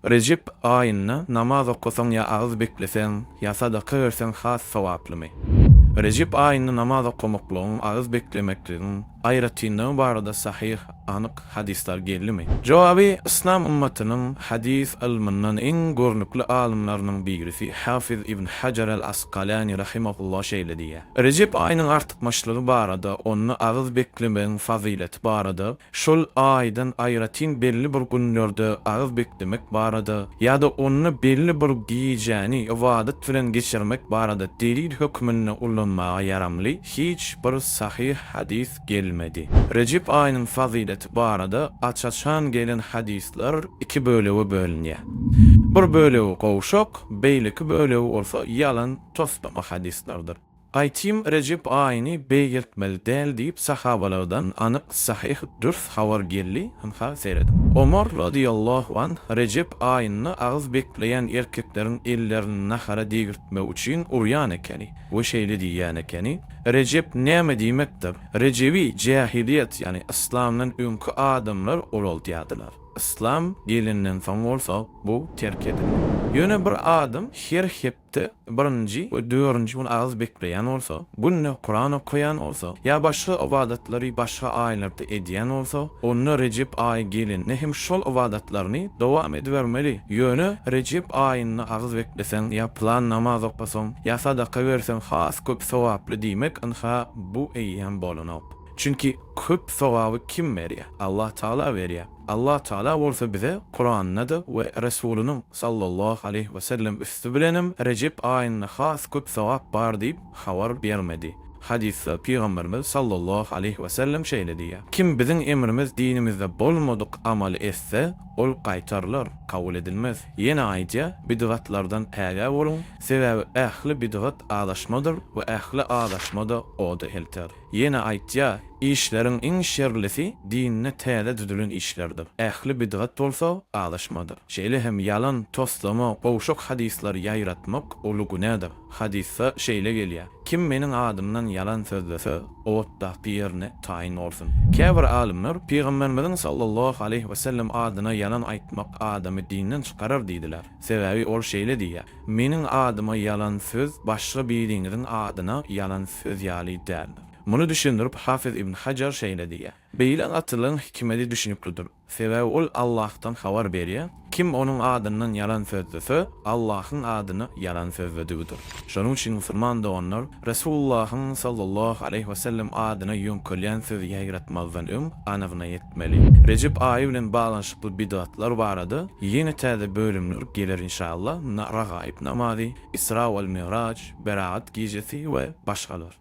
Rejep aýynda namaz okasaň ýa agyz bekleseň, ýa sadaka berseň has sogaplymy? Rejep aýynda namaz okamaklygyň, agyz beklemekligiň aýratynlygy barada sahyh, anyk, hadyslar geldimi? Jogaby, Yslam ymmatynyň hadys ylmyndan iň görnükli alymlarynyň birisi Hafiz ibn Hajar al-Askalani rahimahullah şeýle diýýär, Rejep aýynyň artykmaçlygy barada, onda agyz beklemegiň fazyleti barada Şol aýdan aýratyn belli bir günlerde agyz beklemek barada ýa-da onda belli bir gijäni ybadat bilen geçirmek barada delil hökmünde ullanmaga ýaramly hiç bir sahyh hadys gelmedi. Rejep aýynyň fazyleti barada aç-açan gelen hadyslar iki bölege bölünýär. Bir bölegi gowşak, beýleki bölegi bolsa ýalan toslama hadyslardyr. Gaýtym Rejep aýyny beýgeltmeli däl diýip sahabalardan anyk sahyh dürs habar geldi, ynha serediň. Omar razyýallahu anh Rejep aýynda agyz bekleýän erkekleriň ellerini nahara degirtmek üçin urýan ekeni we şeýle diýýän ekeni, Rejep näme diýmekdir? Rejebi jähiliýet ýagny yslamdan öňki adamlar uraldýardylar. Yslam gelenden soň bolsa bu terk edildi. Ýöne bir adam her hepde Hepde birinji we dördünji gün agyz bekleýän bolsa, günde Kuran okaýan bolsa, ýa başga ybadatlary başga aýlarda edýän bolsa, onda Rejep aýy gelende hem şol ybadatlaryny dowam edibermeli. Ýöne Rejep aýynda agyz bekleseň ýa pylan namaz okasaň, ýa sadaka berseň has köp sogaply diýmek ynha bu eýýäm bolanok. Çünki köp sogaby kim berýär? Allatagala berýär. Allah Tagala bolsa bize Kuranda-da we Resulynyň, sallallahu aleýhi we sellem, üsti bilenem Rejep aýynda has köp sogap bar diýip habar bermedi. Hadysda Pygamberimiz, sallallahu aleýhi we sellem, şeýle diýýär, Kim biziň emrimiz dinimizde bolmadyk amaly etse, ol gaýtarylar, kabul edilmez. Ýene aýdýar, Bidgatlardan ägä boluň, sebäbi ähli bidgat azaşmadyr we ähli azaşma-da oda elter. Ýene aýtýar, Işleriň iň şerlisi dinde täze düzülen işlerdir. Ähli bidgat bolsa, azaşmadyr. Şeýle hem ýalan, toslama, gowşak hadyslar ýaýratmak uly günädir. Hadysda şeýle gelýär, Kim meniň adymdan ýalan sözlese, otdaky ýerine taýyn bolsun. Käbir alymlar, Pygamberimiziň sallallahu aleýhi wesellem adyna ýalan aýtmak adamy dinden çykarar diýdiler. Sebäbi ol şeýle diýýär, Meniň adyma ýalan söz başga biriňiziň adyna ýalan söz ýaly däldir. Muny düşündirip, Hafyz ibn Hajar şeýle diýýär, Beýle gatylygyň hikmedi düşnüklidir. Sebäbi ol Allahdan habar berýär, kim onuň adyndan ýalan sözlese, Allahyň adyna ýalan sözledigidir. Şonuň üçin musulman doganlar Resulullahyň sallallahu aleýhi we sellem adyna ýöňkelýän sözi ýaýratmazdan öň anygyna ýetmeli. Rejep aýy bilen baglanyşykly bidgatlar barada ýene täze bölümler geler inşallah, Ragaib namazy, Isra wal Mi'raj, Beragat gijesi we başgalar.